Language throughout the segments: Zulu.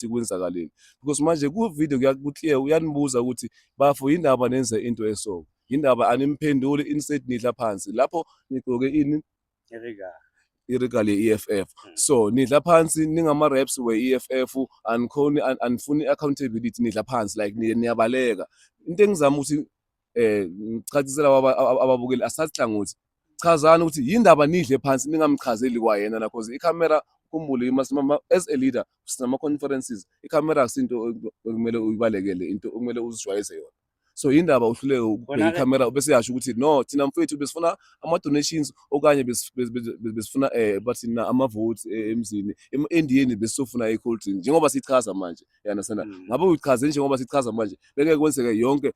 ukuthi kwenzakaleni because manje ku video ku clear uyanibuza ukuthi bafo yindaba nenze into eso yindaba animphenduli instead nidla phansi lapho nigqoke ini irigala irigala ye-EFF hmm. so nidla phansi ningama-raps we-EFF anikhoni anifuni i-accountability nidla phansi like niyabaleka into engizama ukuthi eh ngichachisela ababukeli asasihlangothi chazani ukuthi yindaba nidle phansi ningamchazeli kwayena la cause ikhamera kumbule imasimama as a leader sinama conferences ikhamera akusinto okumele uyibalekele into okumele uzijwayeze yona so yindaba uhluleke ukubheka ikhamera bese yasho ukuthi no thina mfethu besifuna ama donations okanye besifuna eh bathi na ama votes eh, emzini endiyeni besifuna i cold drink njengoba sichaza manje yana sana mm. ngabe uchaze njengoba sichaza manje beke kwenzeke yonke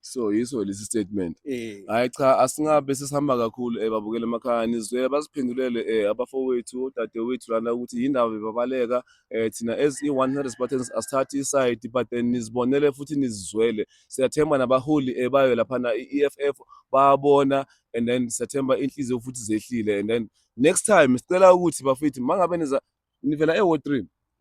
so yiso lesi statement eh. hayi cha asingabe sesihamba kakhulu eh babukele emakhaya nizwela basiphendulele eh abafowethu odadewethu lana ukuthi yindaba bebabaleka eh thina as i-100 Spartans asithathi isayidi but then nizibonele futhi nizizwele siyathemba nabaholi eh bayo laphana i-EFF bayabona and then siyathemba inhliziyo futhi zehlile and then next time sicela ukuthi bafethu mangabe niza nivela e-ward 3